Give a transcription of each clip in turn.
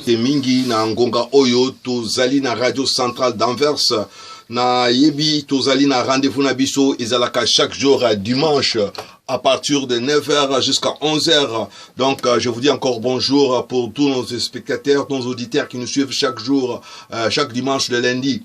te mingi na ngonga oyo tozali na radio centrale d'anvers nayebi tozali na rendez-vous na biso ezalaka chaque jour euh, dimanche à partir de 9h jusqu'à 11h. Donc, euh, je vous dis encore bonjour pour tous nos spectateurs, nos auditeurs qui nous suivent chaque jour, euh, chaque dimanche, le lundi.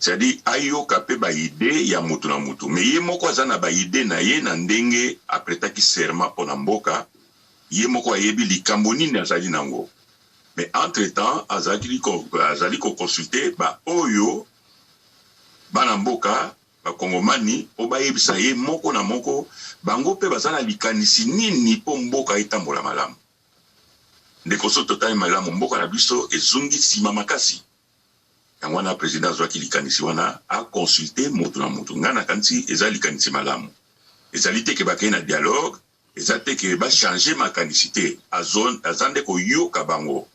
c'est-à-dire ayoka mpe baide ya moto na moto me ye moko aza na baide na ye na ndenge apretaki serment mpo na mboka ye moko ayebi likambo nini azali nango mais entre temps azali koconsulte baoyo bana mboka ba kongomani po bayebisa ye moko na moko bango pe baza na likanisi nini po mboka etambola malamu ndeko soki totali malamu mboka na biso ezongi sima makasi yango wana president azwaki likanisi wana a consulte motu na motu ngai nakanisi eza likanisi malamu ezali te ke bakei na dialogue Eza te que ba changer makanisi te, azo aza nde koyoka bango.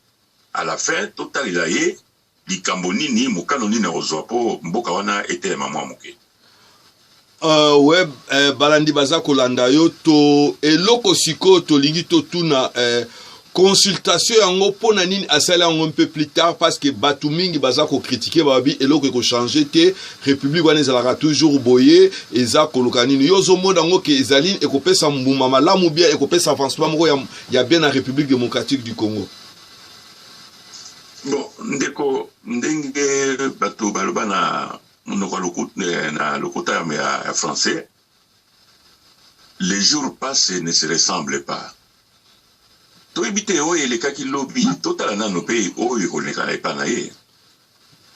A la fin totalela ye likambo nini, mokano nini akozwa po mboka wana etelema mwa moke. Uh, we uh, balandi baza kolanda yo to eloko sikoyo tolingi totuna uh, consultation yango mpo na nini asali yango mpe plus tard parce que bato mingi baza kokritike babi eloko ekochange te république wana ezalaka toujours boye eza koluka nini yo ozomona yango ke ezali nini ekopesa mbuma malamu bien ekopesa avancement moko ya, ya bien na république démocratique du congo bon ndeko ndenge bato baloba na monoko ya eh, lokota ya français Les jours passent ne se ressemblent pas. Toyebi te oyo elekaki lobi, totala nano mpe oyo ekoleka epa na ye.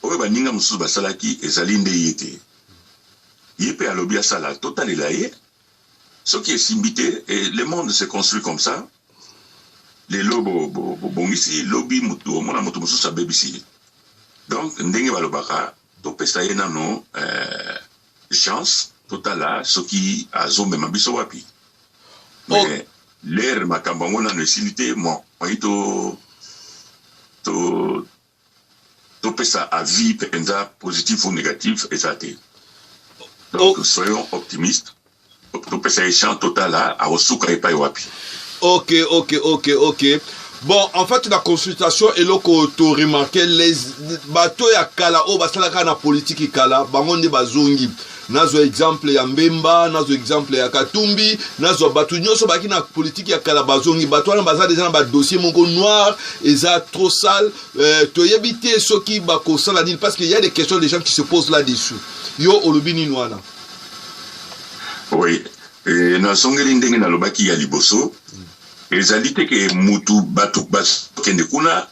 Oyo baninga mosusu basalaki ezali nde ye te. Ye mpe alobi asala, totalela ye. Soki esimbi te, et le monde se construit comme ça, lelo bobongisi, lobi omona moto mosusu abebisi ye. Donc ndenge balobaka, Topesa ye nano eh, chance totala soki azomema biso wapi mais oh. lere makambo yango nano esili te moyi to to topesa avis mpenza positif ou négatif eza te donc oh. soyons optimiste topesa ye chance totala akosuka epai wapi ok ok ok ok bon en fait na consultation eloko toremarke les bato ya kala oyo basalaka na politiki kala bango nde bazongi nazwa exemple ya mbemba nazwa exemple ya katumbi nazwa bato nyonso baki na politiki ya kala bazongi bato wana baza deja na badossier moko noir eza trop sale euh, toyebi te soki bakosala nini parce que ya des questions des gens qui se posent là dessus yo olobi nini wana Oui. E, nazongeli ndenge nalobaki ya liboso mm. ezali te ke mutu bato bakende kuna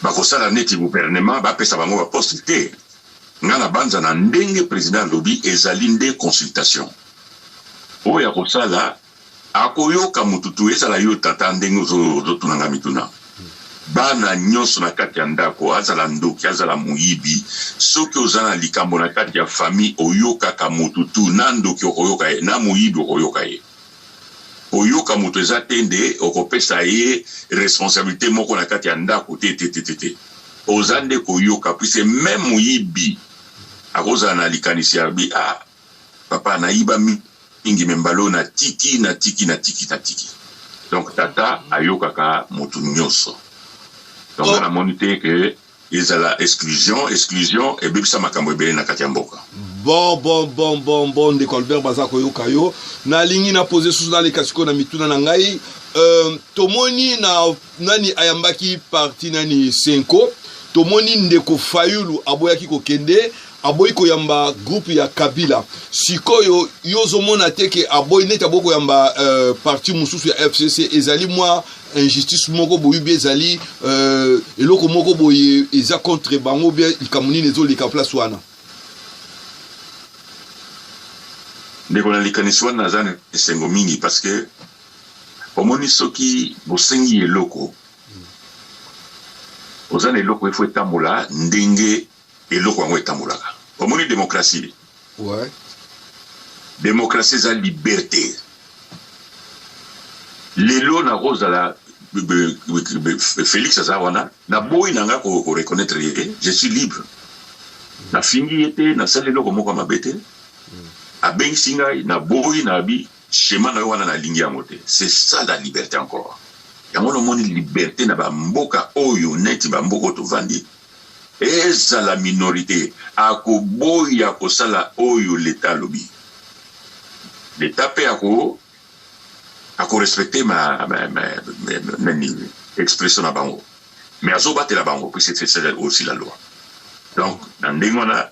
bakosala neti gouvernement bapesa bango baposte te ngai nabanza na ndenge président alobi ezali nde consultation oyo akosala Akoyoka mutu tout ezala yo tata ndenge ozo tuna nga mituna bana nionso na kati ya ndako azala ndoki azala moyibi soki oza na likambo na kati ya famille oyokaka mutu tout na ndoki okoyoka ye na moyibi okoyoka ye koyoka mutu eza te nde okopesa ye responsabilite moko na kati ya ndako te te te te te oza nde koyoka puisque meme moyibi akozala na likanisi ya bi a ah, Papa na yiba mingi me mbala oyo na tiki na tiki na tiki na tiki donc tata ayokaka motu nyonso donc nga oh. namoni te ke ezala exclusion exclusion ebebisa makambo ebele na kati ya mboka bon bon bon bon bon ndeko albert baza koyoka yo nalingi na pose susu naleka sikoyo na mituna na ngai euh, tomoni na Nani ayambaki parti nani Senko? Tomoni ndeko Fayulu aboyaki kokende aboyi koyamba groupe ya Kabila. Sikoyo yo ozomona te ke aboyi neti aboyi koyamba euh, parti mosusu ya FCC ezali mwa injustice moko boye bie ezali euh, eloko moko boye eza contre bango bie likambo nini ezoleka place wana ndeko na likanisi wana naza na esengo mingi parce que omoni soki bosengi eloko oza na eloko efo etambola ndenge eloko yango etambolaka omoni demokrasi ouais. demokrasi eza liberte lelo nakozala félix aza wana naboyi na ngai koreconnaitre ye te je suis libre nafingi ye te nasali eloko moko ya mabe te abengisi ngai naboyi na abi Schema nayo wana nalingi yango te c'est ça la liberte encore yango wana omoni liberte na ba mboka oyo neti ba mboka oyo tovandi ezala minorite akoboya kosala oyo leta alobi leta mpe ako akorespecte ma, ma, ma, ma, ma, nani expression na bango mais azobatela bango puisque c'est aussi la loi donc na ndenge wana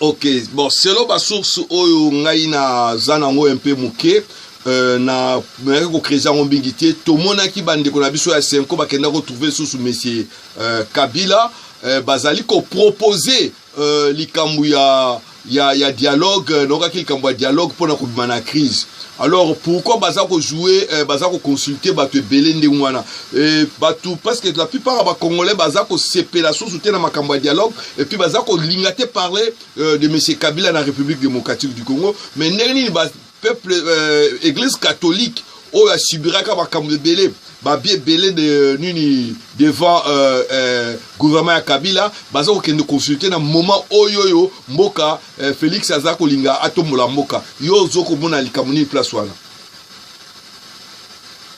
ok bon selon basource oyo ngai naza nango un peu moke Euh, na nayaki kokreze yango mingi te tomonaki bandeko na biso ya senko bakenda kotrouve lisusu monsieur euh, kabila euh, bazali kopropose euh, likambo ya, ya, ya dialogue euh, naokaki likambo ya dialogue mpo na kobima na crise alors pourquoi baza kojoue euh, baza koconsulte bato ebele ndenge wana Et batou, parce que la plupart des Congolais, baza ko sepela sous na makambo dialogue, et puis baza ko lingate parler euh, de Monsieur Kabila na République démocratique du Congo, mais neni ba peuple euh, église catholique oyo asibiraka makambo ebele babi ebele de euh, nini devant euh, euh, gouvernement ya kabila baza kokende consulte na moment oyo oyo mboka euh, félix aza kolinga atombola mboka yo ozo komona likambo nini place wana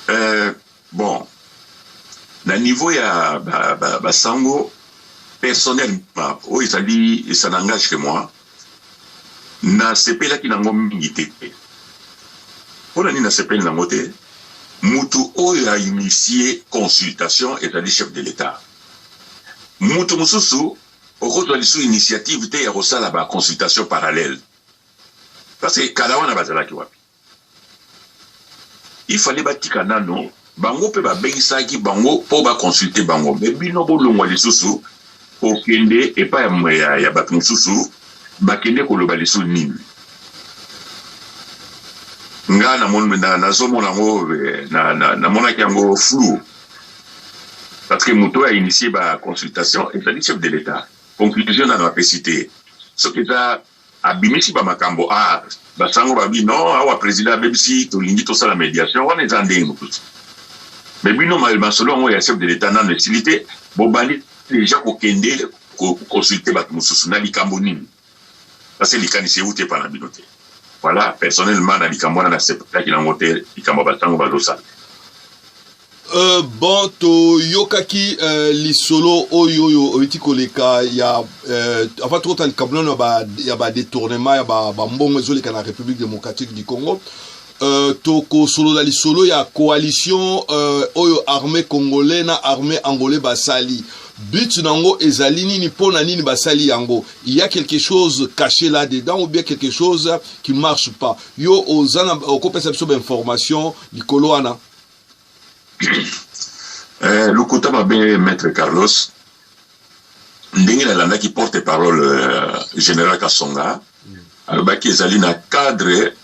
euh, Bon, na niveau ya ba, ba, ba sango personnellement, oyo ezali ça n'engage que moi, nasepelaki nango mingi te. Mpo na nini nasepeli nango te? Mutu oyo a initie consultation ezali chef de l'État. Mutu mosusu okozwa lisusu initiative te ya kosala ba consultation parallèle parce que kala wana bazalaki wapi? Il fallait batika nano bango pe babengisaki bango po ba consulter bango mais bino bolongwa lisusu kokende epa ya, ya, ya bato mosusu bakende koloba lisusu nini nga nazomona yango eh, namonaki yango flou parce que moto oyo ainitie ba consultation ezali chef de l'etat conclusion nano apesi te soki eza Abimisi ba makambo a ba sango ba bi non awa president abebisi tolingi tosala mediation wana eza ndenge mosusu mais bino masolo yango ya chef de l'etat nano esili te bobandi deja kokende ko consulter bato mosusu na likambo nini parce que likanisi euti epa na bino te voilà personnellement na likambo wana na sepelaki na yango te likambo ya ba sango bazosala Euh, bon toyokaki euh, lisolo oyo oyo oyuti koleka ya euh, avant tokota likambo nano ya badetournement ya bambongo ezoleka na république démocratique du congo euh, tokosolola lisolo ya coalition euh, oyo armée congolais na armée angolais basali but na yango ezali nini mpo na nini basali yango il y a quelque chose caché là dedans ou bien quelque chose qui marche pas yo oza na okopesa biso bainformation likolo wana eh, lokuta mabe maître carlos ndenge nalandaki porte parole euh, général kasonga alobaki ezali na cadre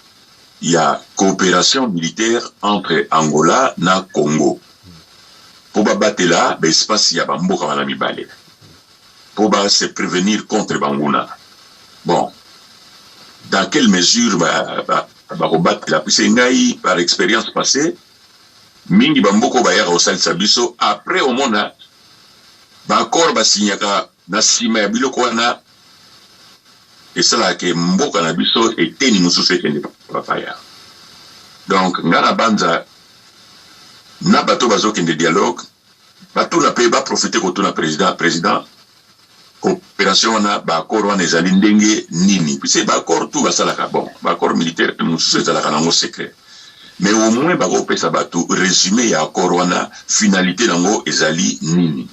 ya coopération militaire entre angola na congo mpo babatela baespace ya bamboka wana mibale mpo ba se prévenir contre banguna bon dans quelle mesure ba, ba, Bakobatela puisque ngai par experience passee mingi ba mboka oyo bayaka kosalisa biso après omona ba accord ba signaka na sima ya biloko wana esalaka ke mboka na biso eteni mosusu ekende bapaya donc ngai nabanza na bato bazokende dialogue Batuna pe ba profiter kotuna president, president cooperation wana ba accord wana ezali ndenge nini? Puisque ba accord tout basalaka bon, ba accord militaire mosusu ezalaka nango secret mais au moins bakopesa bato resume ya accord wana finalité nango ezali nini?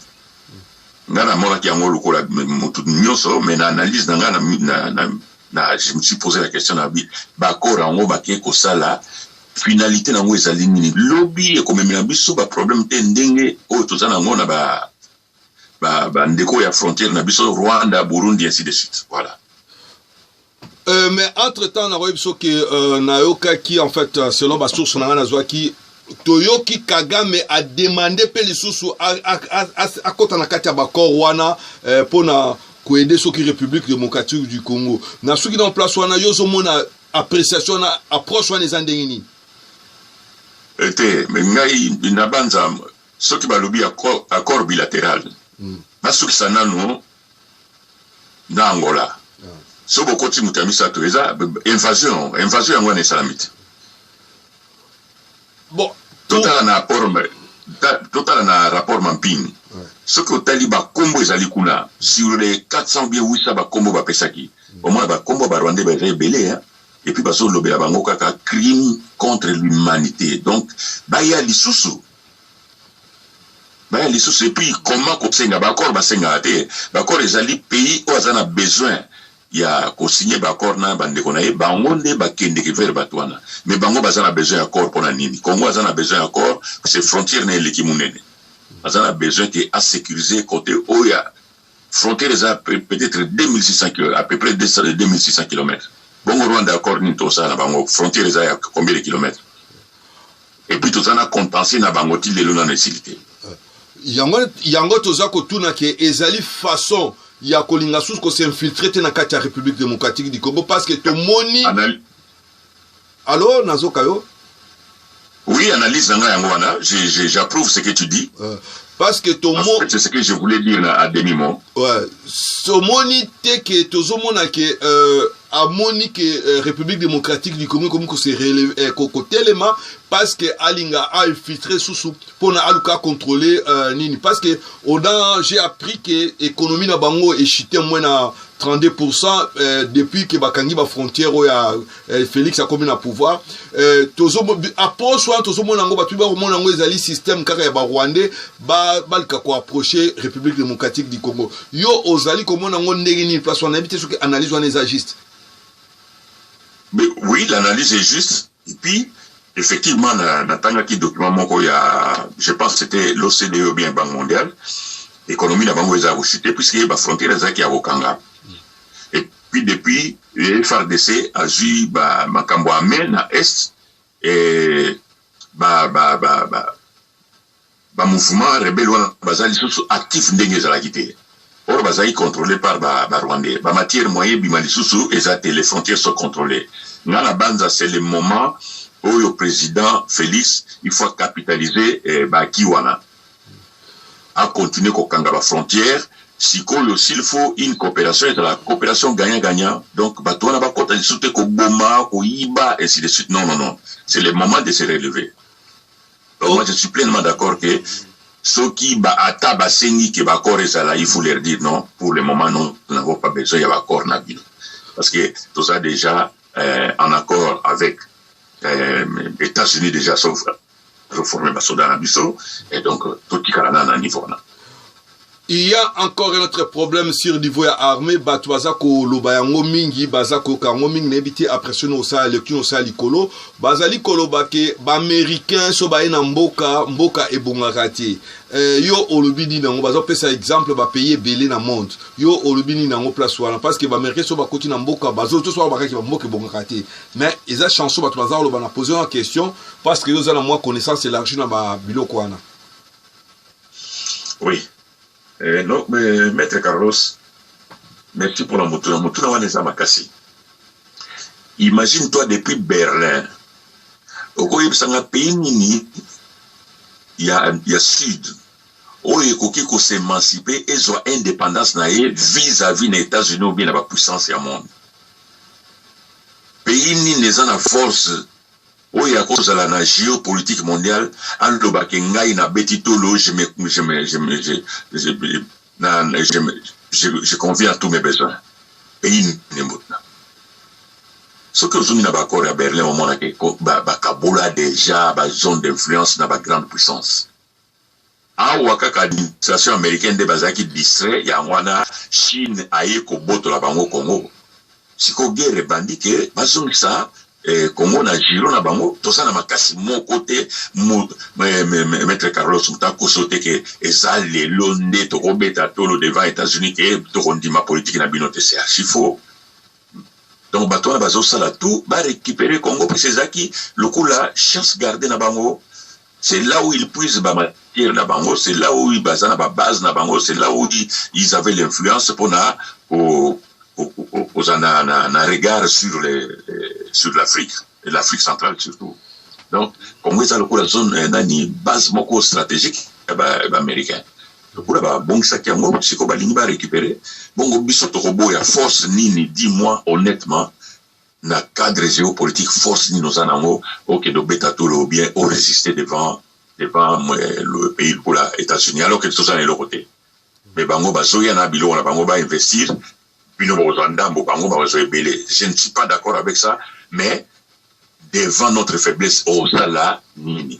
Nga namonaki yango lokola moto nyonso mais na analyse na nga na, na, na na je me suis posé la question na bi bakor yango bakei kosala finalité nango ezali nini lobi ekomemela biso baproblème te ndenge oyo toza nango na bandeko ba, ba ya frontière na biso rwanda burundi ainsi de suite voilà Euh, mais entre temps nakoyebi biso ke euh, nayokaki en fait euh, selon basource na ngai nazwaki toyoki kagame ademande mpe lisusu akɔta na kati ya bakor wana eh, mpo na koede soki république démocratique du congo na soki na place wana yo ozomona appréciation wana approche wana eza ndenge nini ete eh, ngai nabanza soki balobi accord bilatéral hmm. nasukisa nano na Angola soki bokoti moto ya misato eza invasion yango invasion yango wana esalami te bon totala na rapport totala na rapport mampini soki otali bakombo ezali kuna sur les 400 bien 800 bakombo bapesaki omona bakombo barwandais baza ebele hein? epuis bazolobela bango kaka crime contre l'humanité donc baya lisusu Baya lisusu et puis comment kosenga ba accord basengaka te ba accord ezali pays oyo aza na besoin ya ko signer ba accord na ba ndeko na ye bango nde bakendeke vers batu wana mais bango baza na besoin ya accord pona nini congo aza na besoin ya accord c'est frontière na eleki munene aza na besoin ke a securiser cote oyo ya Frontière eza peut etre 2600 kilo à peu près 2600 kilomètres bongo Rwanda accord nini tokosala na bango frontière eza ya combien de kilomètres et puis toza na contentieux na bango ti lelo nanu esili te yango, yango toza kotuna ke ezali façon ya kolinga susu ko s'infiltrer te na kati ya République démocratique du Congo parce que tomoni Anal Allo nazoka yo. Oui, analyse nanga yango wana, j'approuve ce que tu dis. Euh, parce que ton mot c'est ce que je voulais dire à demi mot. Ouais, somoni te que tozomona que euh, amoni que euh, République démocratique du Congo comme se relever euh, koko tellement parce que alinga a infiltré sous sous pour na aluka contrôler euh, nini parce que on a j'ai appris que économie na bango est chute moins na 32 pourcent euh, depuis ke bakangi bafrontière oyo ya euh, félix akomi na pouvoir euh, approche wana tozomona yango bato bakomona yango ezali système kaka ya barwandais balika koapproche république démocratique du congo yo ozali komona yango ndenge nini place wana nayebi te soki analyse wana eza juste mais oui l'analyse est juste Et puis, effectivement, na, na tangaki document moko ya, je pense c'était l'OCDE ou bien Banque mondiale, économie na bango eza kochute, puisque ba frontières ezalaki ya kokanga. Et puis depuis, le FRDC azui ba makambo ya main na Est, et ba, ba, ba, ba, Ba mouvements rebelles wana baza lisusu actifs ndenge ezalaki te. Or bazalaki controles par ba ba rwandais. Ba matières moyen ebima lisusu eza te, les frontières sont controlees. Nga na banza c'est le moment oyo president Felix il faut a capitaliser ba acquis wana. A continuer ko kanga ba frontières, sikoyo s'il faut une cooperation ezala cooperation gagnant gagnant. Donc batu wana ba kota lisusu te ko boma, ko yiba ainsi de suite. Non non non c'est le moment de se relever. Donc moi je suis pleinement d'accord que soki ba ata basengi ke baccord ezala il faut leur dire non pour le moment non nous n'avons pas besoin ya baccord na bino parce que toza déjà euh, en accord avec euh, états-unis déjà sauf azoforme basoda na biso et donc totikala na na niveau wana il y a encore un autre problème sur niveau ya armée bato baza koloba yango mingi baza koyoka yango mingi nayebi te après soki osala lecture osala likolo bazali koloba ke baaméricain so baye na mboka mboka ebongaka te eh, yo olobi nini yango baza kopesa exemple bapays ebele na monde yo olobi nini yango place wana parce que baaméricain so bakoti na mboka bazotosoa bakaki bamboka ebongaka te mais eza chanson bato baza koloba na poser na question parce que yo oza na mwa connaissance élargie na babiloko wana Oui. Eh, no, eh, Maître Carlos, merci pour la motuna. Motuna wana eza makasi. Imagine toi depuis Berlin. Okoyebisa nga pays nini ya, ya sud oyo ekoki kosemansipe ezwa indépendance na ye vis-à-vis na états-unis ou bien na bapuissance ya monde pays nini eza na force oyo akozala na geo politique mondial aloba ke ngai na beti tolo je me je me je me je je na je me je je conviens à tous mes besoins eyi nembona soki ozongi na baaccord ya berlin omonake bakabola déjà ba zone d'influence na ba grande puissance Awa kaka administration americaine nde bazalaki distrait yango wana chine aye kobotola bango congo sikoyo guerre ebandi ke bazongisa eh, congo na giro na bango toza na makasi moko te mo, me, me, me, maître carlos moto akoso te ke eza lelo nde tokobeta tolo devant états-unis ke tokondima politiki na bino te se archi faux donc bato wana bazosala tout barécupere congo mpesa ezalaki lokola chance garde na bango c'est là où ils puisent ba matière na bango c'est là où baza na ba base na bango c'est là où ils avaient l'influence pona kozala na, na, na regard sur, les, sur l'afrique et l'afrique centrale surtout donc congo eza lokola zone eh, nani base moko stratégique ya baaméricain lokola babongisaki yango sikoyo balingi barécupere bongo biso tokoboya force nini dis moi honnêtement na cadre geopolitique force nini oza nango okende obeta tolo ou bien o résister devant devant euh, le pays lokola états-unis alors que toza na eloko te mais bango bazoya na biloko na bango bainvestir bino bakozwa ndambo bango bakozwa ebele je ne suis pas d'accord avec ça mais devant notre faiblesse osala nini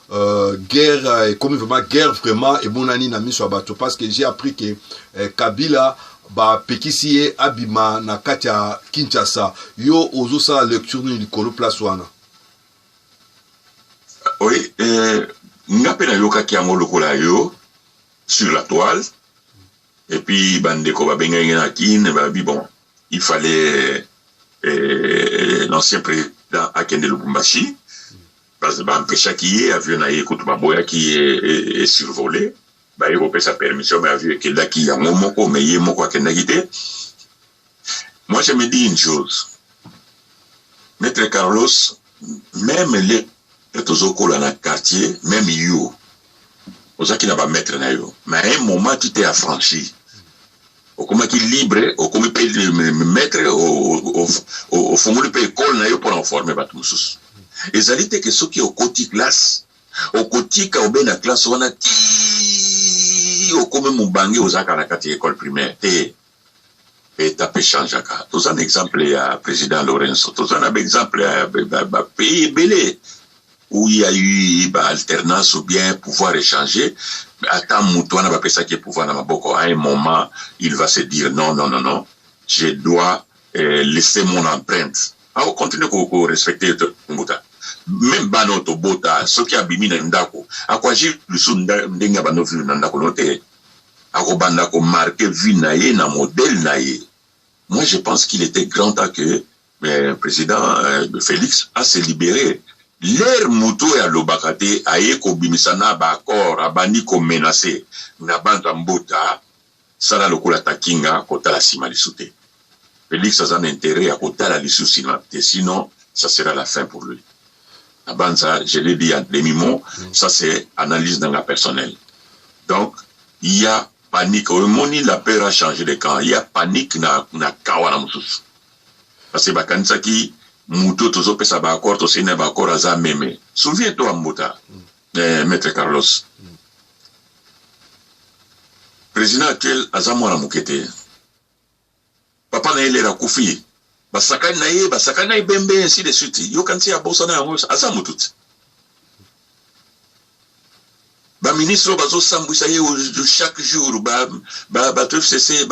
Euh, guerre euh, ekomi vraiment guerre vraiment emonani na miso ya bato parce que j'ai appris que euh, kabila bapekisi ye abima na kati ya kinshasa yo ozosala lecture nini likolo place wana oui eh, nga mpe nayokaki yango lokola yo sur la toile et puis bandeko babengaki ngai na kin babi bon il fallait eh, l'ancien président akende lubumbashi Ba empechaki ye avion na ye kutu baboyaki ye e survoler baye kopesa permission mais avion ekendaki yango moko mais ye moko akendaki te moi je me dis une chose maître Carlos même les tozokola na quartier même yo ozaki na ba maitre na yo mais à un moment tu t'es affranchi okomaki libre okomi mpe maître ofungoli mpe ekole na yo mpona oforme bato mosusu ezali te ke soki okoti classe okotika obe na classe wana ti okomi mobange ozalaka na kati ya ekole primaire te Etat pe echangeaka toza na exemple ya president Lorenzo toza na ba exemple ya ba pays ebele où il y a eu ba alternance ou bien pouvoir échanger ata mutu wana bapesaki ye pouvoir na maboko à un moment il va se dire non non non non je dois euh, laisser mon empreinte au continue ko, ko respecter to mbuta même bana oyo tobota soki abimi na ndako akoagir lisusu ndenge ya banovi na ndako no te akobanda ko marquer vie na ye na modèle na ye moi je pense qu'il etait grand temps que euh, président euh, Felix a se libérer Ler moto oyo alobaka te aye kobimisa na ba accord abandi ko menacer na banza mbota sala lokola takinga kotala sima lisu te Felix aza na interet ya kotala lisusu sima te sinon ça sera la fin pour lui nabanza je l'ai dit en demi mot mm. ça c'est analyse na nga personnelle donc il y a panique omoni la peur a changé de camp il y a panique na, na camp wana mosusu parce que bakanisaki moto tozopesa baaccord tosei na baaccord aza meme souviens toi mbuta mm. eh, maître carlos mm. président actuel aza mwana moke te papa na ye lera akufi ye basakani na ye basakani na ebembe ainsi de suite yokanisi abosana yango aza motu te baministre oyo bazosambwisa ye chaque jour bato fcc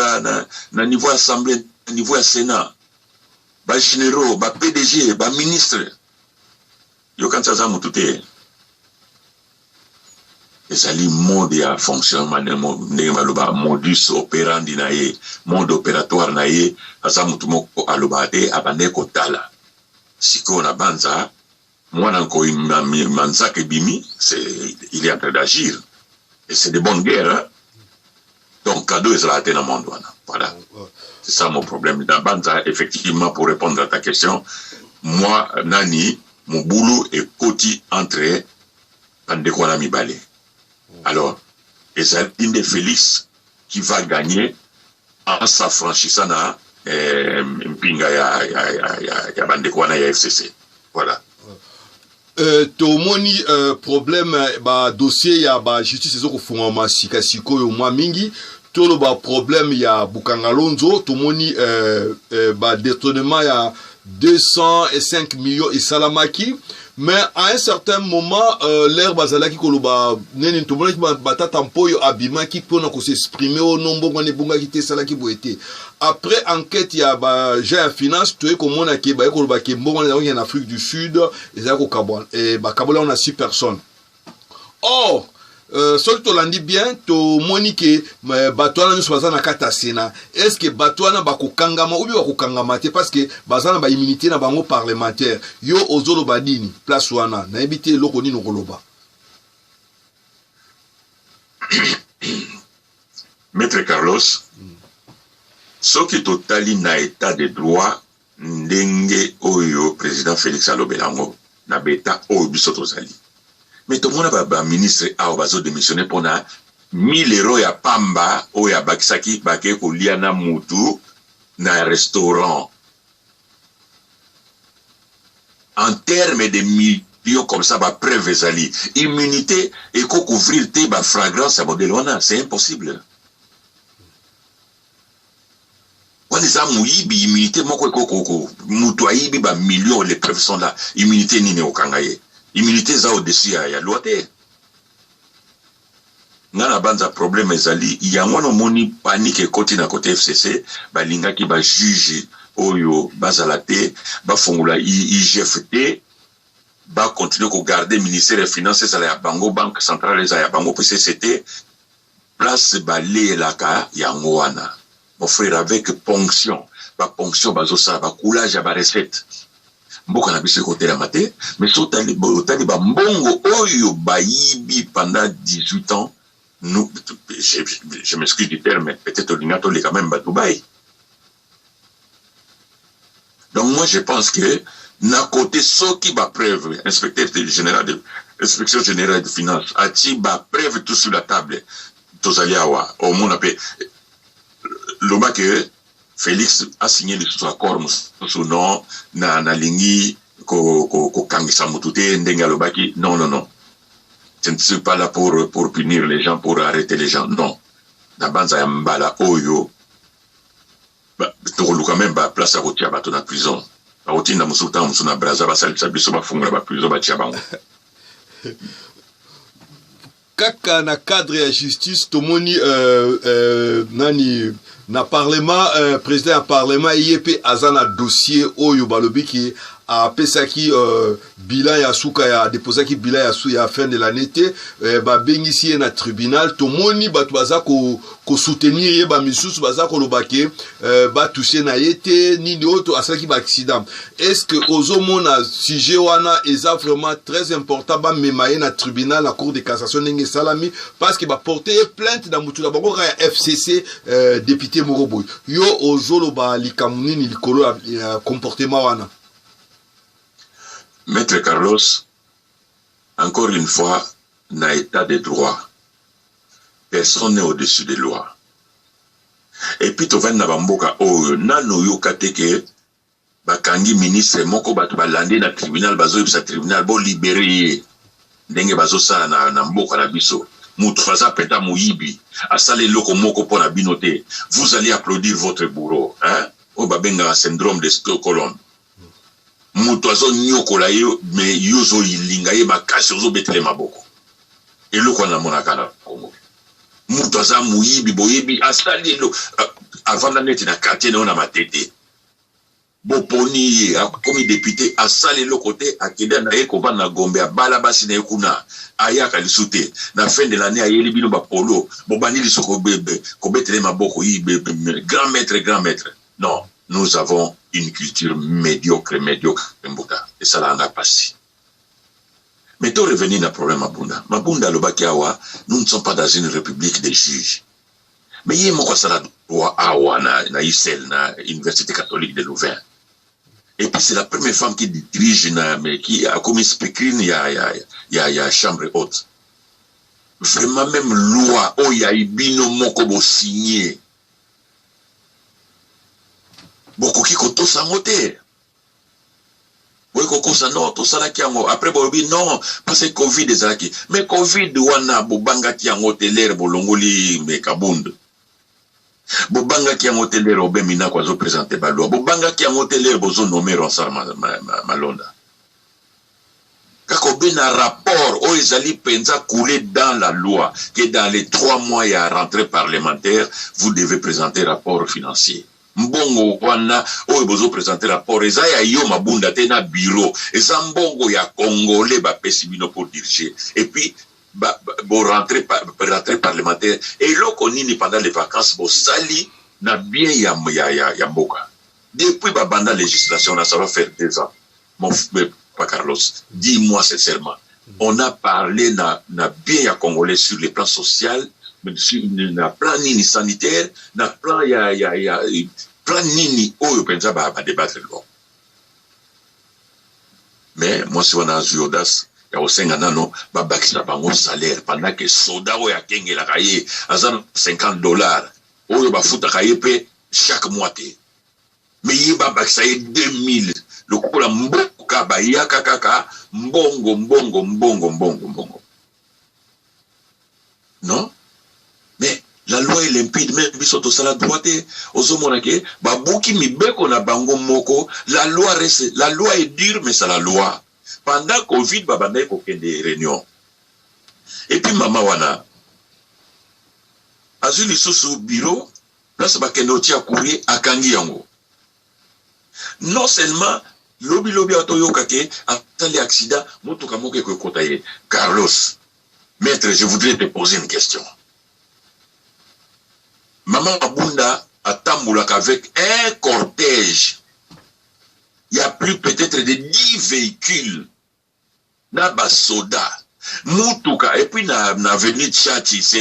na niveau ya assemblée na niveau ya sénat bagénéraux bapdg baministre Yo okanisi aza mutu te? Ezali mode ya fonctionnement ndenge baloba modus operandi na ye, mode operatoire na ye. Aza mutu moko alobaka te, abandaki kotala. Sikoyo na Banza, mwana nkoyi manzaka ebimi, il est en train d'agir et c'est de bonne guerre hein. Donc cadeau ezalaka te na monde wana. Voilà. C'est ça mon problème. Na banza effectivement pour répondre à ta question, moi nani mobulu ekoti entre bandeko wana mibale. Alors ezali nde Felix qui va gagner en s'affranchissant na eh, mpinga ya, ya, ya, ya, ya bandeko wana ya FCC. Voilà. Euh, tomoni euh, problème euh, ba dossier ya ba justice ezokofungwama sika sikoyo mwa mingi toloba problème ya bukangalonzo tomoni euh, euh, ba détournement ya 205 millions esalamaki mais à un certain moment euh, l'air bazalaki koloba nini tomonaki batata mpoyo abimaki mpona kosexprime o oh, no mbongo wana ebongaki te esalaki boye te Après enquête ya ba gens ya finance toye komona ke baye koloba ke mbongo wana ezalaki ya na Afrique du Sud ezalaki kokabwana eh, bakaboli yango na 6 personnes or Euh, soki tolandi bien tomoni ke euh, bato wana nyonso baza na kati ya sena est ce que bato wana bakokangama obi bakokangama te parce que baza na baimmunité na bango parlementaire yo ozoloba nini place wana nayebi te eloko nini okoloba Maitre Carlos, soki totali na etat de droit ndenge oyo president Felix alobela yango na beta oyo biso tozali me tomona ba, ba ministre awa bazo demissionner mpo na 1000 euro ya pamba oyo abakisaki bakei kolia na mutu na restaurant en terme de millions comme ça ba preuve ezali immunité eko couvrir te ba fragrance ya modèle wana c'est impossible wana eza moyibi immunité moko ekokoko moto ayibi ba millions les preuves sont là immunité nini okanga ye immunité eza au-dessus ya, ya loi te Nga na banza problème ezali yango wana omoni panique ekoti na cote FCC balingaki ba juge oyo bazala te bafongola IGF te ba continuer ko garder ministère ya finance ezala ya bango banque centrale ezala ya bango pe CCT place baleyelaka yango wana Mon frère avec ponction ba ponction bazo sala ba coulage ya ba recette mboka na biso ekotelama te mais so otali otali ba mbongo oyo bayibi pendant 18 ans nous je, je m'excuse du terme peut-être olinga toleka même ba Dubaï donc moi je pense que na côté soki ba preuve inspecteur général de inspection générale de finance atie ba preuve tout sur la table tozali awa omona mpe loba que Felix a signé lisusu accord mosusu non na nalingi kokangisa ko, ko motu te ndenge alobaki non non non je ne suis pas là pour, pour punir les gens pour arrêter les gens non na banza ya mbala oyo tokoluka meme baplace ya kotia bato na prison bakotinda mosusu ntango mosusu na braza basalisa biso bafungola baprison batia bango kaka na cadre ya justice tomoni euh, euh, nani na parlement euh, président ya parlement ye mpe aza na dossier oyo balobi ke apesaki euh, bilan ya suka ya deposaki bilan ya, ya fin de l'année te euh, babengisi ye na tribunal tomoni bato baza ko soutenir ye ba misusu baza koloba ke euh, ba toucher na ye te nini oyo asalaki ba accident est ce que ozomona sujet wana eza vraiment très important bamema ye na tribunal na cour de cassation ndenge esalami parce que baporte ye plainte na motu na bango kaka ya fcc euh, député moko boye yo ozoloba likambo nini likolo ya, ya comportement wana maître carlos encore une fois na etat de droit personne n'est au-dessus de loi et puis tovandi na bamboka oyo nanu oyoka te ke bakangi ministre moko bato balandi na tribunal bazoyebisa tribunal bolibere ye ndenge bazosala na, na mboka na biso moto aza mpenza moyibi asala eloko moko mpo na bino te vous allez applaudir votre bourreau hein? oyo babengaka syndrome de stockholm mutu azo niokola ye me yo ozo linga ye makasi ozo betele maboko eloko wana namonaka na congo mutu aza moyibi boyebi asali elo avanda neti na quartier na yo na matete boponi ye akomi depute asali eloko te akenda na ye kovanda na gombe abala basi na ye kuna ayaka lisu te na fin de l'année ayeli bino bapolo bobandi lisu kobetele maboko grand maître grand maître Non, nous avons une culture mediocre, mediocre, mbuta. Et ça l'a passé. Mais to revenir na problème Mabunda. Mabunda alobaki awa, nous ne sommes pas dans une république des juges. Mais ye moko asala droit awa na, na ISEL, na Université catholique de Louvain. Et puis c'est la première femme qui dirige, na, mais qui a commis speakerine, il y a, y, a, y, a, y a chambre haute. Vraiment même loi, oh y a ibino moko bo signé. bokoki kotosa yango te boye kokosa non tosalaki yango après bolobi non parce que covid ezalaki mais covid wana bobangaki yango te lere bolongoli me kabund bobangaki yango te lere obe minako azopresente balwa bobangaki yango te lere bozonome ronsar malonda ma, ma, ma Kakobe na rapport oyo ezali mpenza coule dans la loi que dans les trois mois ya rentree parlementaire vous devez presenter rapport financier. Mbongo wana oyo bozo presenter rapport eza ya yo Mabunda te na bureau, eza mbongo ya congolais ba pesi bino pour diriger et puis ba bo rentree rentree parlementaire eloko nini pendant les vacances bosali na bien ya ya ya mboka depuis ba banda legislation na ça va faire deux ans Mon frère Papa Carlos, dis-moi sincèrement, on a parlé na, na bien ya Congolais sur le plan social, sur, na plan nini sanitaire, na plan ya, ya, ya plan nini oyo penza ba, ba débattre loi. Mais moi si wana azwi audace ya kosenga nano babakisa bango salaire pendant que soda oyo akengelaka ye aza na 50 dollars oyo bafutaka ye mpe chaque mois te mais ye babakisa ye 2000 lokola mboka bayaka kaka mbongo mbongo mbongo mbongo mbongo non mais la loi est limpide meme biso tosala droit te ozomona ke babuki mibeko na bango moko la loi reste la loi est dure mais c'est la loi pendant covid babandaki kokende réunion epuis mama wana azwi lisusu biro place bakende kotia courrier akangi yango non seulement lobi lobi awa toyoka ke asali accident motuka moko ekoekota ye carlos maître je voudrais te poser une question mama abunda atambolaka avec un cortège ya plus peut-être de 10 véhicules na ba soda mutuka epuis na, na avenue Tshatshi se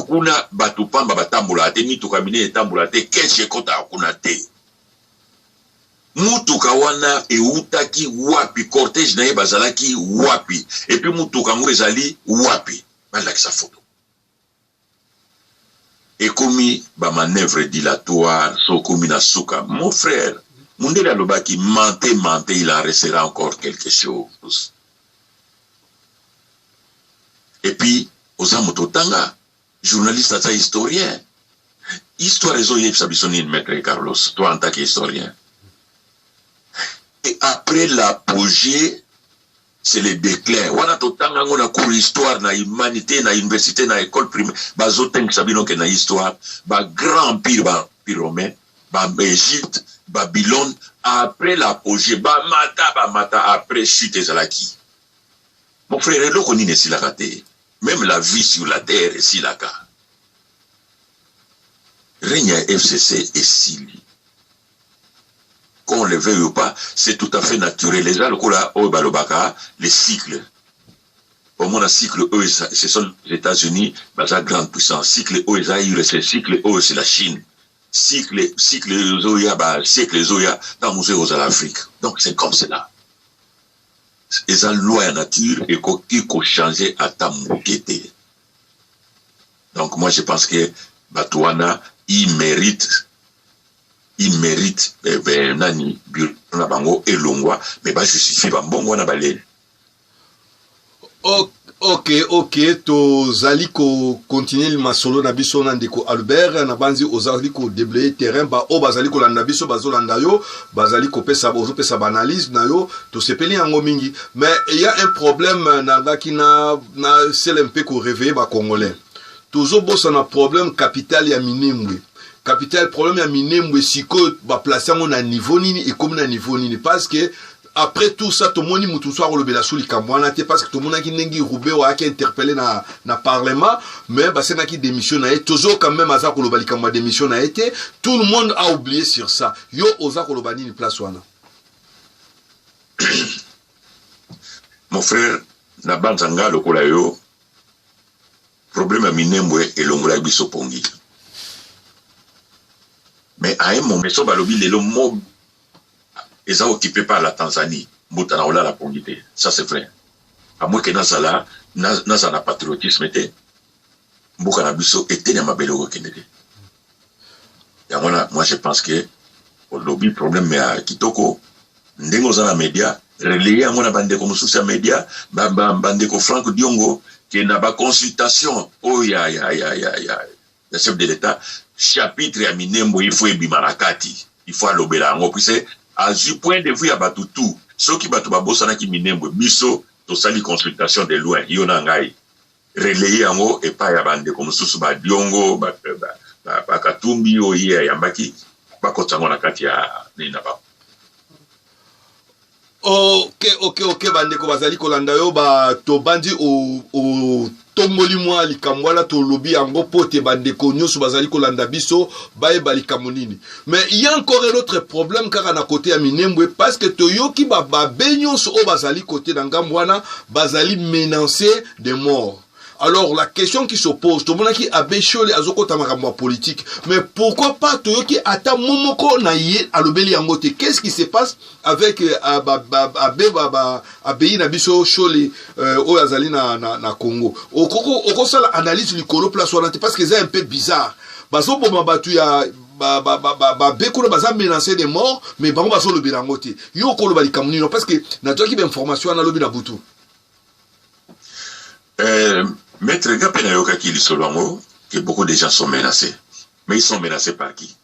kuna bato pamba batambolaka te, mituka minene etambolaka te, keshe ekotaka kuna te. mutuka wana eutaki wapi cortège na ye bazalaki wapi epuis mutuka yango ezali wapi balakisa foto ekomi ba manœuvre dilatoire so okomi na suka mon frère mundele alobaki mente mente il en restera encore quelque chose et puis oza moto otanga journaliste aza historien histoire ezoyebisa biso nini maître carlos toi en tant que historien et après l'apogée c'est le declin wana totanga yango na cours histoire na humanité na université na école primaire bazotangisa bino ke na histoire ba grand empire ba empire romain ba égypte babylone après l'apogée bamata bamata après chute ezalaki mon frère eloko nini esilaka te même la vie sur la terre esilaka règne ya fcc esili Qu'on le veuille ou pas, c'est tout à fait naturel. Les gens lokola oyo balobaka les cycles. Omona cycle oyo ce sont les États-Unis, baza grande puissance. Cycle oyo eza USA, cycle oyo c'est la Chine. Cycle cycle ezoya ba cycle ezoya ntango mosusu ekozala Afrique. Donc c'est comme cela. Eza loi ya nature ekoki ko changer ata moke te. Donc moi je pense que Batuana, il mérite, il mérite, eh ben, nani, na bango, elongwa, mais ba justifier ba mbongo na balé. Ok, ok, ok, tozali ko continuer le masolo na biso na ndeko Albert, na banzi ozali ko déblayer terrain, ba o bazali ko landa biso, bazolanda yo, bazali kopesa ozopesa baanalyse na yo tosepeli yango mingi mais eya un problème nangaki na, na sele mpe koreveille bacongolais tozobosana problème capital ya minembwe capital problème ya minembwe sikoyo baplace yango na niveau nini ekomi na niveau nini parce que après tout ça tomoni moto mosusu akolobela so likambo wana te parce que tomonaki ndenge rubeo ayaki interpelle na, na parlement mais basengaki démission na ye tozo quand même aza koloba likambo ya démission na ye te tout le monde a oublié sur ça Yo oza koloba nini place wana? Mon frère, na banza nga lokola yo problème ya minembwe elongolaki biso pongi mais à un moment so balobi lelo mob eza occupé par la tanzanie mbuta na kolala pongi te ça c'est vrai amweke nazala nazala na patriotisme te mboka na biso eteni ya mabele okokende te yango wana moi je pense que olobi problème ya kitoko ndenge oza na media relaye yango na bandeko mosusu ya media bandeko frank diongo ke na baconsultation oyo ya, ya, ya, ya, ya, ya chef de l'état chapitre ya minembo il faut ebima na kati il faut alobela yango puise azwi point de vue ya bato tout soki bato babosanaki minembwe biso tosali consultation de loin yo na ngai relayer yango epai ya bandeko mosusu ba Diongo ba, ba, ba, ba Katumbi oyo ye ayambaki bakotisa yango na kati ya nini na bango ok ok ok bandeko bazali kolanda yo ba tobandi otomboli mwa likambo wana tolobi yango mpo te bandeko nyonso bazali kolanda biso bayeba likambo nini mais il y a encore un autre problème kaka na kote ya minembwe parce que toyoki bababe nyonso oyo bazali kote na ngambo wana bazali menance de mort alors la question qui s'oppose tomonaki abe shole azokota makambo ya politique mais pourquoi pas toyoki ata mo moko na ye alobeli yango te qu'est ce qui se passe avec euh, abe abeyi na biso shole euh, oyo azali na, na, na congo okosala analyse likolo place wana te parce que eza un peu bizarre bazoboma bato ya ba, ba, ba, ba, ba be kuna baza menance de mort mais bango bazolobela yango te yo okoloba likambo nino parce que nazwaki bainformation wana lobi na butu euh, maître nga mpe nayokaki lisolo yango que beaucoup de gens sont menacés mais ils sont menacés par qui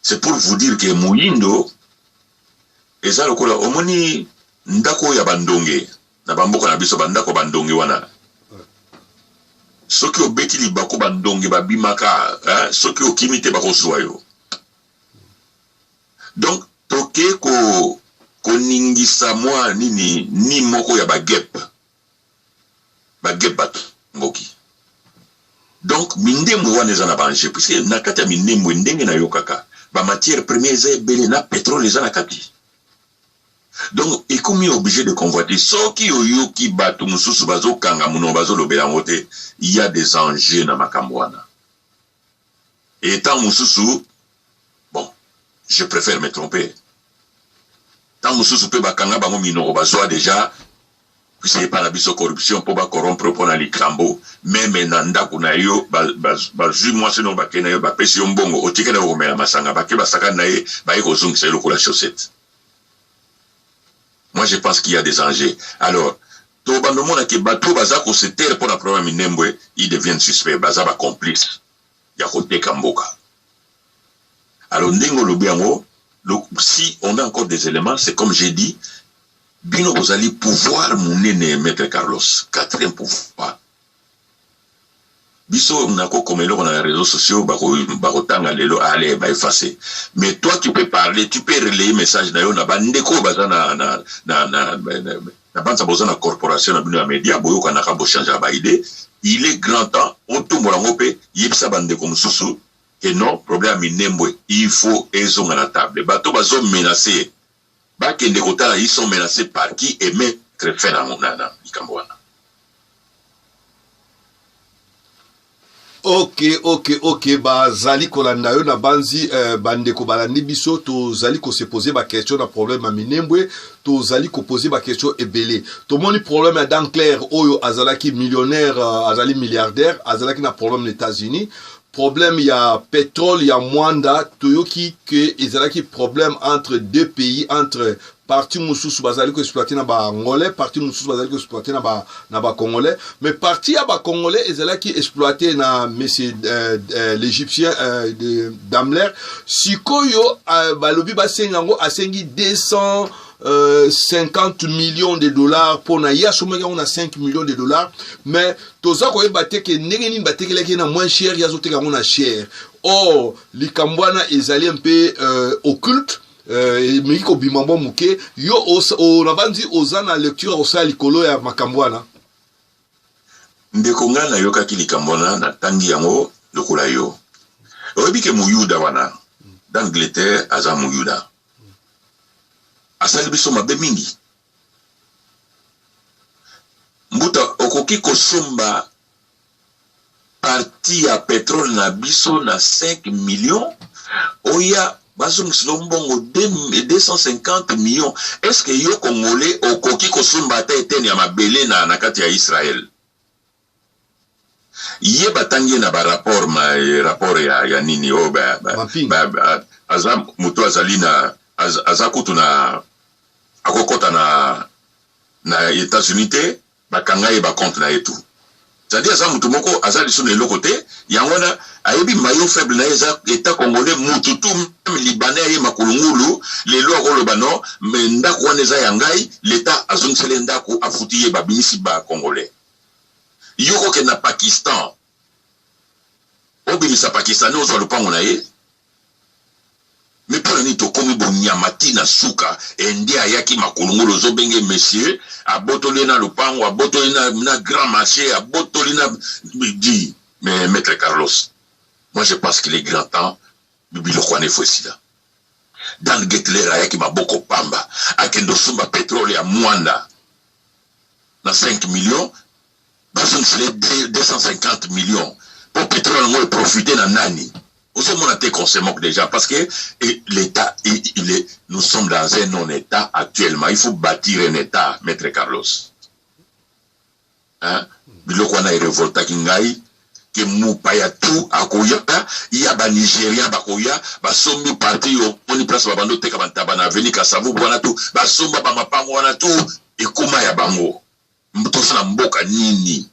c'est pour vous dire que moyindo eza lokola omoni ndako ya bandonge Na ba mboka na biso ba ndako ya ba ndonge wana soki obeti libaku ba ndonge ba bimaka hein? Soki okimi te bako zua yo. Donc toke ko koningisa mwa nini ni moko ya ba gep ba gep ba ngoki donc mindembwe wana eza na bange puisque na kati ya mindembwe ndenge nayokaka bamatière première eza ebele na petrole eza na kati Donc ekomi oblige de convoiter soki oyoki batu mususu bazo kanga munoko bazo lobela yango te il ya des enjeux na makambo wana et tant mususu bon je préfère me tromper tant mususu pe bakanga bango minoko bazwa dejà Kasi epa na biso corruption po ba corrompre po na likambo meme na ndaku na yo ba ba zui mwasi na yo ba ke na yo ba pesi yo mbongo otike na yo ko mela masanga ba ke ba sakani na ye ba ye ko zungisa ye lokola chaussette moi je pense qu'il y a des enjeux alors to bando mona ke batu ba za ko se taire pona problème minembwe il devient suspect ba za ba complice ya ko teka mboka alors ndenge olobi yango si on a encore des éléments c'est comme j'ai dit Bino bozali pouvoir munene Maitre Carlos, quatrième pouvoir. Biso nako koma eloko na réseaux sociaux bako bakotanga lelo ale ba effacer. Mais toi tu peux parler, tu peux relayer message na yo na ba ndeko baza na na na na, na, na, na banza boza na corporation na bino ya media boyokanaka bo changer ba idée. Il est grand temps otombola ngo pe yebisa ba ndeko mosusu que non problème ya minembwe il faut ezonga na table. Bato bazo menacer Ba kende ko tala ils sont menaces par qui et me très fin na na na likambo wana. Ok ok ok ba zali ko landa yo na banzi euh, ba ndeko ba landi biso to zali ko se poser ba question na problème ya minembwe to zali ko poser ba question ebele to moni problème ya Dan Claire oyo azalaki millionnaire euh, azali milliardaire azalaki na problème na États-Unis problème ya petrole ya Mwanda toyoki que ezalaki problème entre deux pays entre parti mosusu bazali ko exploiter na ba angolais parti mosusu bazali ko exploiter na ba na ba congolais mais parti ya ba congolais ezalaki exploiter na monsieur euh, euh, l'égyptien euh, de Daimler sikoyo euh, balobi basenga yango asengi 200 euh, 50 millions de dollars pour na ye asomaki yango na 5 millions de dollars mais toza koyeba te ke ndenge nini batekelaki ye na moins cher ye azoteka yango na cher or likambo wana ezali mpe euh, occulte euh, emeki euh, kobima mwa moke yo nabanzi oza na lecture ya kosala likolo ya makambo wana ndeko ngai nayokaki likambo wana natangi yango lokola yo oyebi ke moyuda wana d'angleterre aza moyuda asali biso mabe mingi Mbuta okoki kosomba partie ya petrole na biso na 5 millions oya bazongisa yo mbongo 250 millions est ce que yo congolais okoki kosomba ata eteni ya mabele na, na kati ya Israël ye batangi ye na ba rapport ma rapport ya, ya nini oyo oh, ba, ba, ba, ba, aza moto azali na az, aza kutu na akokɔta na na États-Unis te bakanga ye bacompte na ye tout cetadi aza moto moko aza lisu na eloko te yango wana ayebi mayo faible na ye eza etat congolais mutu tu meme libanais aye makulungulu lelo akoloba no me ndako wana eza ya ngai leta azongiseli ye ndako afuti ye babimisi ba congolais yo kokende na pakistan obimisa pakistani ozwa lopango na ye me mpo na nini tokomi bonyama ti na suka ende ayaki makulungulu ozobenge monsieur abotoli ye na lopango abotoli na, na grand marché abotoli na di mais maître carlos moi je pense qu'il est grand temps biloko wana efo esila dan getler ayaki maboko pamba akende osumba petrole ya mwanda na 5 millions bazongisa ye 250 millions po petrole yango eprofite na nani ozomona te consemok déjà parce que l'état il est nous sommes dans un non état actuellement il faut bâtir un état maître carlos hein? biloko wana erevoltaki ngai que mopaya tout akoya ya ba Nigerian bakoya basombi parti omoni place babanda oteka ba ntaba na avenue Kasavubu wana tout basomba ba mapango wana tout ekoma ya bango toza na mboka nini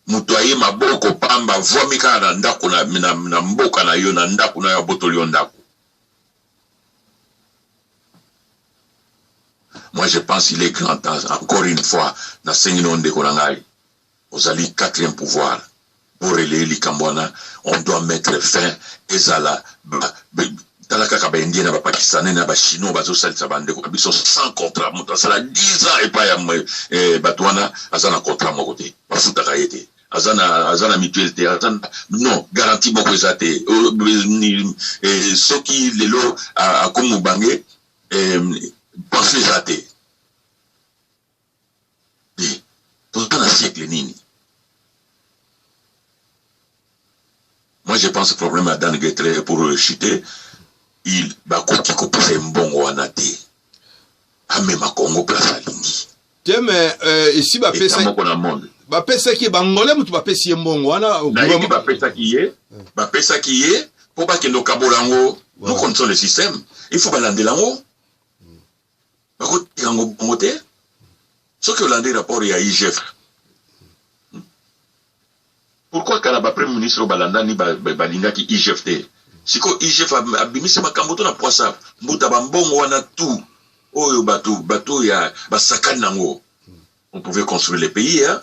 moto aye maboko pamba vwami kaka na ndako na, na, na mboka na yo na ndako na yo abotoli yo ndako moi je pense il est grand temps encore une fois nasengi na yo ndeko na ngai Ozali quatrième pouvoir bo relayer likambo wana on doit mettre fin ezala ba tala kaka ba indien na ba pakistanais na ba chinois bazo salisa ba ndeko na biso sans contrat moto asala 10 ans epa ya eh, bato wana aza na contrat moko te bafutaka ye te aza na aza na mutuelle te aza na non garantie moko eza te eh, soki lelo akomi mobange eh, pension eza te te toza na siècle nini moi je pense problème ya dan getre pour euh, chute il bakoki kopesa ye mbongo wana te amema congo place alingi te me euh, esi bapesaki na monde bapesaki ye bangole motu bapesi ye mbongo wana nayebi bapesaki ye bapesaki ye mpo bakende okabola yango nous connaissons le système il faut balandela yango bakotika yango bongo te soki olandi rapport ya igf pourquoi kala ba premier ministre balandani balingaki igf te sikoyo igf abimisi makambo to na pwasa mbuta bambongo wana tout oyo bato bato ya basakani nango on pouvait construire le pays hein?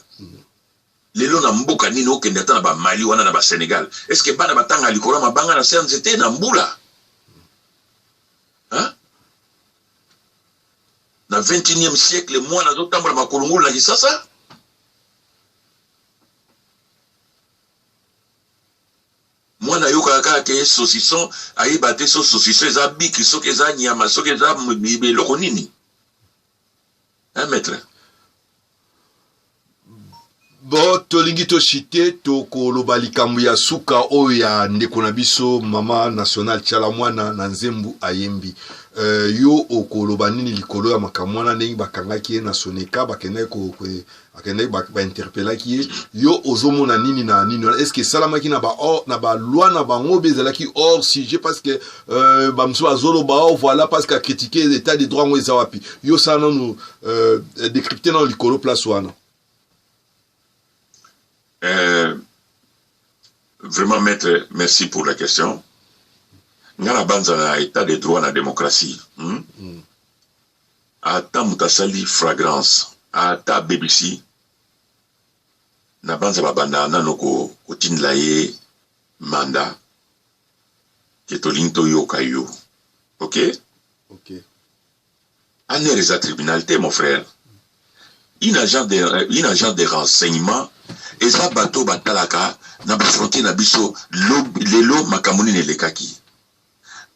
lelo na mboka nini okende ata na bamali wana na basenegal est ce que bana batanga likolo ya mabanga na se ya nzete na mbula hein? na 21e siècle mwana azotambola makulungulu na kisasa mwana ayokaka kaka ke saucisson ayeba te so saucisson eza biki soki eza nyama soki eza eloko nini hein maître bo tolingi toshite tokoloba likambo ya suka oyo ya ndeko na biso mama national tiala mwana na nzembu ayembi uh, yo okoloba nini likolo ya makambo wana ndenge bakangaki ye na soneka bakendaki ko, ko, akendaki ba, ba interpellaki ye yo ozomona nini na nini wana est ce que esalamaki na ba or na ba loi na bango be ezalaki hors sujet parce que euh, ba mosusu bazoloba oh voilà parce que acritique état de droit yango eza wapi yo sala nanu euh, décrypte nano likolo place wana euh, vraiment maître merci pour la question nga na banza na état de droit na démocratie hmm? Mm. Ata moto asali fragrance ata abebisi nabanza babandaka nano kotindela ye manda ke tolingi toyoka yo ok ok aner eza tribunal te mon frère une agence de, euh, une agence de renseignement eza bato batalaka na bafrontier na biso lelo makambo nini elekaki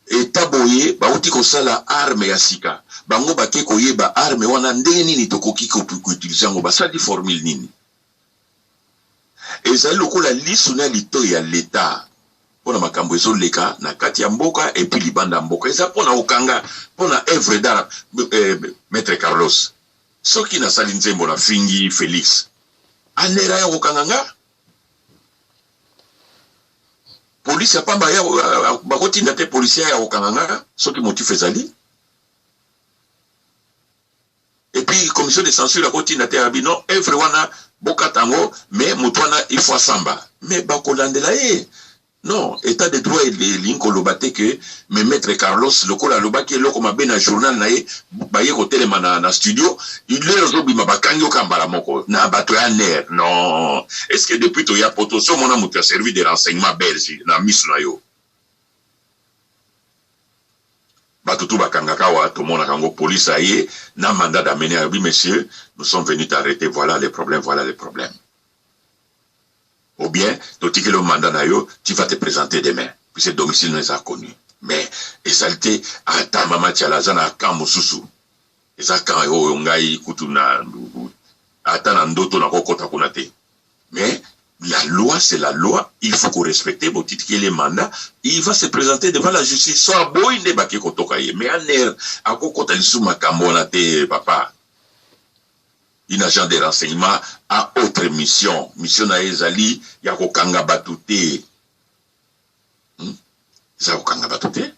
Etat boye bawuti kosala arme ya sika bango bake koyeba arme wana ndenge nini tokoki ko utiliser yango basali formule nini ezali lokola lisu na litoyi ya l'etat pona makambo ezoleka na kati ya mboka et puis libanda mboka eza pona okanga pona œuvre d'art eh, maître Carlos soki nasali nzembo na fingi Felix anera ya kokanga nga polisi ya pamba ya bakotinda te polisi ya kokanga nga soki motif ezali epuis commission de censure akotinda te ya bino evre wana bokata yango mais moto wana il faut asamba mais bakolandela ye Non, etat de droit elingi koloba te que me maitre Carlos lokola alobaki eloko mabe na journal na ye baye kotelema na, na studio lelo ozobima bakangi oka mbala moko na bato ya ner non est ce que depuis toya poto so mona moto ya service de renseignement belge na miso na yo bato tu bakangaka awa tomonaka yango police aye na mandat d'amener alobi monsieur nous sommes venus t'arrêter voilà les problèmes voilà les problèmes Ou bien totikeli yo mandat na yo tu vas te presenter demain puisque domicile no eza connu mais ezali te ata mama tshala aza na camp mosusu eza camp oyo ngai kutu na ata na ndoto nakokota kuna te mais la loi c'est la loi il faut ko respecter botitikeli mandat il va se présenter devant la justice so aboyi nde bake kotoka ye mais aner akokota lisusu makambo wana te papa Une agent de renseignement a autre mission, mission na ye ezali ya ko kanga batu te, eza ya ko kanga batu te.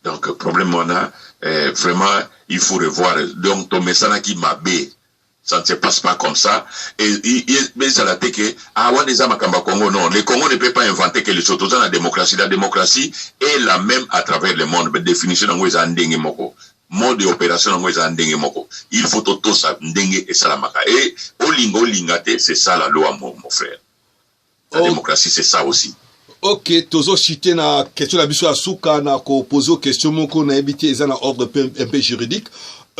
Donc problème wana eh, vraiment il faut revoir. Donc tomesanaki mabe ça ne se passe pas comme ça. Et, et, et mais ça l'a été que ah ouais déjà Makamba Congo non, le Congo ne peut pas inventer quelque chose. Tout ça la démocratie, la démocratie est la même à travers le monde. Mais définition en gros en dingue moko. Mode ya operation nango eza ndenge moko il faut to tosa ndenge esalamaka et olinga olinga te c'est ça la loi mon, mon frère la oh. démocratie c'est ça aussi ok tozo chite na question na biso ya suka na ko poser question moko na te eza na ordre un peu juridique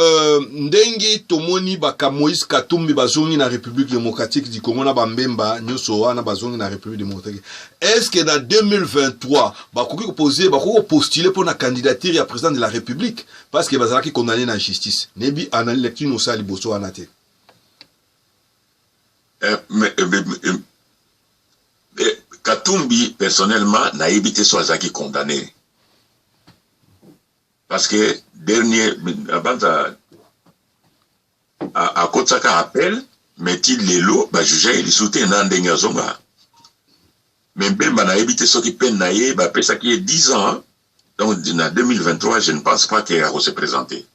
Euh, ndenge tomoni baka moïse katumbi bazongi na république démocratique du congo na bambemba nyonso wana bazongi na république démocratique Est-ce que na 2023 bakoki ko poser bakoki ko postuler pour la candidature ya président de la République parce que bazalaki condamné na justice. Nebi analyse lecture no sali boso wana te. Euh, mais, euh, mais, euh, euh, Katumbi personnellement na te so azaki condamné. Parce que dernier abanza akotisaka appel mais ti lelo ba juge ye lisusu te na ndenge azonga mais Mbemba nayebi te soki peine na ye bapesaki ye 10 ans donc na 2023 je ne pense pas que ako se présenter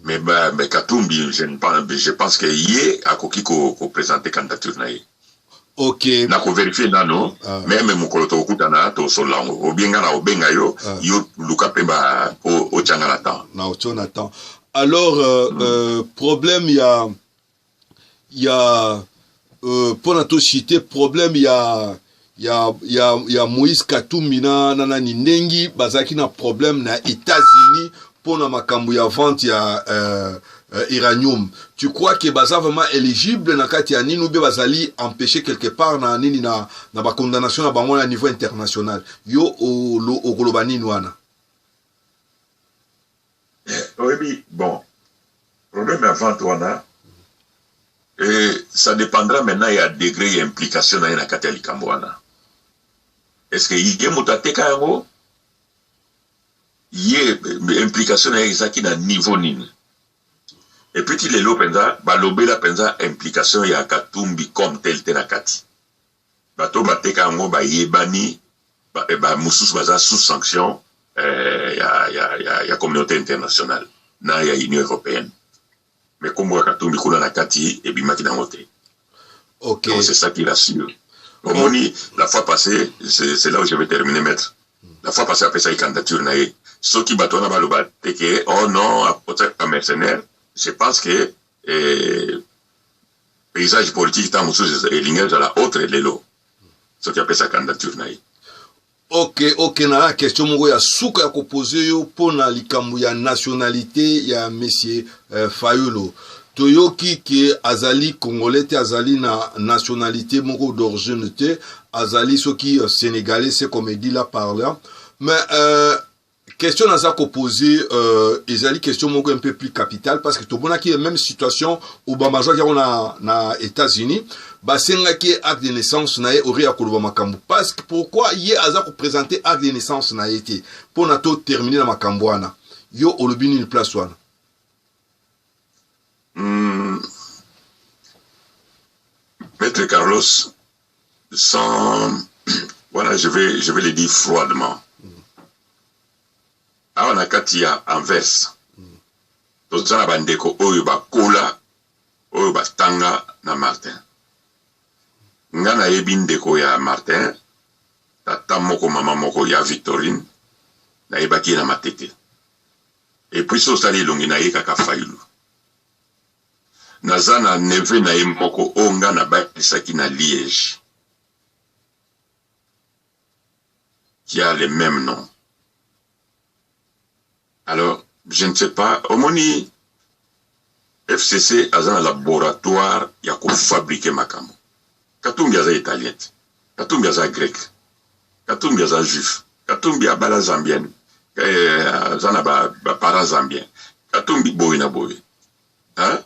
mais, ba, mais Katumbi je, ne pense, je pense que ye akoki ko, ko présenter candidature na ye Okay. Na ko verifier nano ah. meme mokolo tokokutana tosolola yango obie nga na obenga yo ah. yo luka mpe ba otya nga na temps na otyo na temps alors euh, mm. euh, problème ya ya euh, mpo na toshite problème ya ya, ya, ya moïse katumbi na, na nani ndengi bazalaki na problème na états-unis mpo na makambo ya vente ya euh, euh, iranium tu crois que baza vraiment éligible na kati ya nini oubie bazali empêché quelque part na nini na, na bacondamnation na bango na niveau international yo okoloba nini wana oyebi bon problème ya vente wana et ça dépendra maintenant ya degré ya implication na ye na kati ya likambo wana est ce que ye moto ateka yango ye implication na ye ezalaki na niveau nini epuiti lelo mpenza balobela mpenza implication ya katumbi comme tel te na kati Bato oyo bateka yango bayebani, bamosusu ba, ba baza sous sanction eh, ya, ya, ya, ya communauté internationale na ya Union européenne. Mais kombo ya Katumbi kuna na kati ebimaki nango te. Okay. Donc c'est ça qui rassure. Omoni, la fois passée, c'est là où je vais terminer, maître. La fois passée, apesaki candidature na ye. Soki bato wana baloba te ke, oh non, apotisaka mercenaire, je pense que eh, paysage politique ntango mosusu elingi ezala autre lelo soki apesa candidature na ye ok ok na question moko ya suka ya kopose yo mpo na likambo ya nationalité ya monsieur euh, fayulu toyoki ke azali congolais te azali na nationalité moko d'origine te azali soki euh, sénégalais se comme dit la parla mais euh, Question naza ko poser euh, ezali question moko un peu plus capitale parce que tomonaki ye même situation Obama azwaki yango na, na États-Unis basengaki ye acte de naissance na ye ori ya koloba makambo parce que pourquoi ye aza ko présenter acte de naissance na ye te mpo na to terminer na makambo wana yo olobi nini place wana mm. Maître Carlos sans voilà je vais je vais le dire froidement awa na kati ya anvers toza na bandeko oyo bakola oyo batanga na martin nga nayebi ndeko ya martin tata moko mama moko ya victorine nayebaki ye na matete epuis osali elongi na ye kaka fayulu Naza na neveu na ye moko oyo nga nabalisaki na Liege qui a le meme nom. Alors, je ne sais pas, omoni FCC aza na laboratoire ya kofabrike makambo. Katumbi aza italien te. Katumbi aza grec Katumbi aza juif Katumbi abala zambienne eh, aza na ba, ba parents zambien Katumbi boye na boye hein?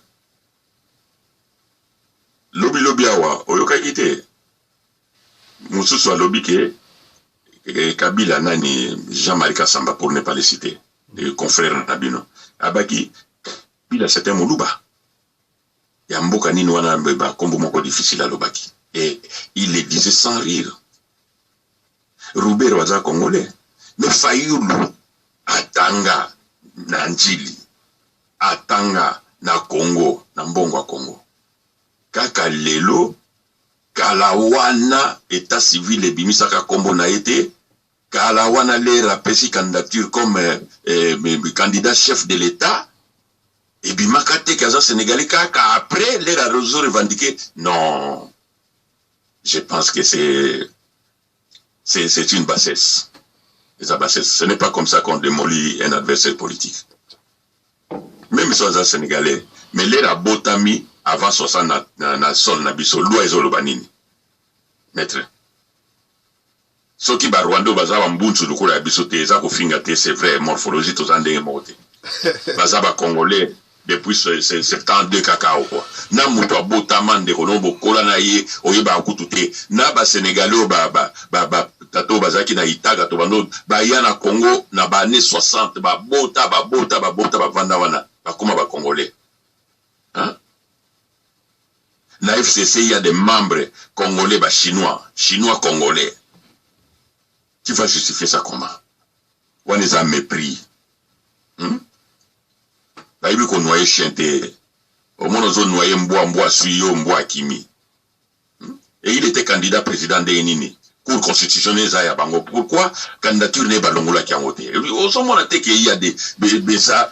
lobi lobi awa oyokaki te mosusu alobi ke eh, kabila nani jean marie kasamba pour ne pas le citer eh, confrère na bino abaki kabila c'est un moluba ya mboka nini wana mbeba nkombo moko difficile alobaki e il le disait sans rire rubero aza congolais me fayulu atanga na njili atanga na congo na mbongo ya congo kaka lelo kala wana etat civil ebimisaka nkombo na ye te Kala wana lera apesi candidature comme eh, candidat chef de l'etat ebimaka te ke aza sénégalais kaka après lera azo revendiquer non je pense que c'est c'est une bassesse eza bassesse ce n'est pas comme ça qu'on démolit un adversaire politique même si aza sénégalais mais lera abotami avant 60 na, na, na sol na biso loi ezoloba nini maître Soki ba rwandais oyo baza ba mbunzu lokola ya biso te eza kofinga te c'est vrai morphologie toza ndenge moko te baza ba congolais depuis 72 kaka awa quoi na mutu abotama ndeko no bokola na ye oyebaka kutu te na ba senegalais oyo ba, ba, ba, ba tata oyo bazalaki na itaga to bando baya na congo na ba année 60 babota babota babota bavanda wana bakoma ba congolais hein? Na FCC il ya des membres congolais ba chinois, chinois congolais tu vas justifier ça comment? Wana eza mepris hum bayebi ko noyer chien te omona ozo noyer mbwa mbwa asui yo mbwa akimi hum et il était candidat president ndenge nini? Cour constitutionnelle eza ya bango pourquoi candidature naye balongolaki yango te? Ozomona te que il ya des beza